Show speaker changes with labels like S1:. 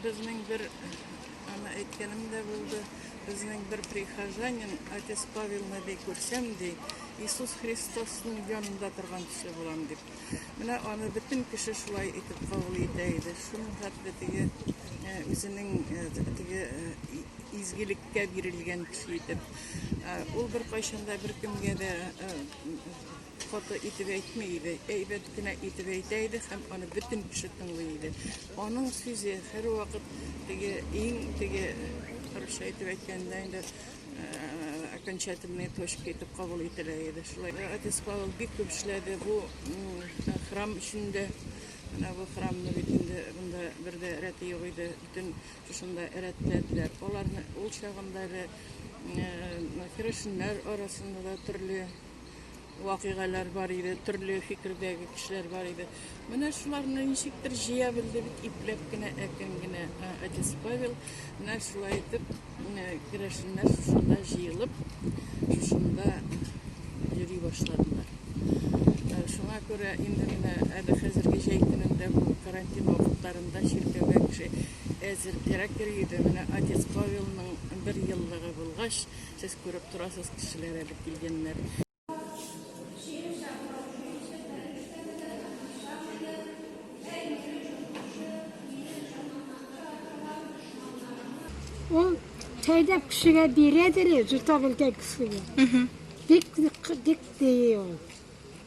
S1: Безнең бер аны әйткәнем дә булды. Безнең бер прихожанин отец Павел Наби күрсәм ди, Иисус Христосның янында торган кеше булам дип. Менә аны бөтен кеше шулай итеп кабул итә иде. Шуның хәтле теге э, үзенең э, теге э, изгелеккә бирелгән кеше итеп. Ул бер кайчанда бер кемгә дә Каты итеп әйтми иде, әйбәт кенә итеп әйтә иде һәм аны бөтен кеше тыңлый иде. Аның сүзе һәрвакыт теге иң теге русча әйтеп әйткәндә инде окончательные точки итеп кабул ителә иде. Шулай отец Павел бик күп эшләде бу храм эчендә. Менә бу храмны бит инде монда бер дә рәте юк иде. Бөтен шушында рәтләделәр. Аларны ул чагында да керәшеннәр арасында да төрле вакыйгалар бар иде, төрле фикердәге кешеләр бар иде. Менә шуларны ничектер җыя белде бит ипләп кенә, әкрен генә әтисе Павел. Менә шулай итеп керәшеннәр шушында җыелып, шушында йөри башладылар. Шуңа күрә инде менә әле хәзерге җәй көнендә бу карантин вакытларында чиркәүгә кеше әзер кирәк йөри иде. Менә отец Павелның бер еллыгы булгач, Сез күреп торасыз, кешеләр әле килгәннәр.
S2: Ул тәйләп кешегә бирәдер, җотарылган кешегә. Дик, дик, дик, дик,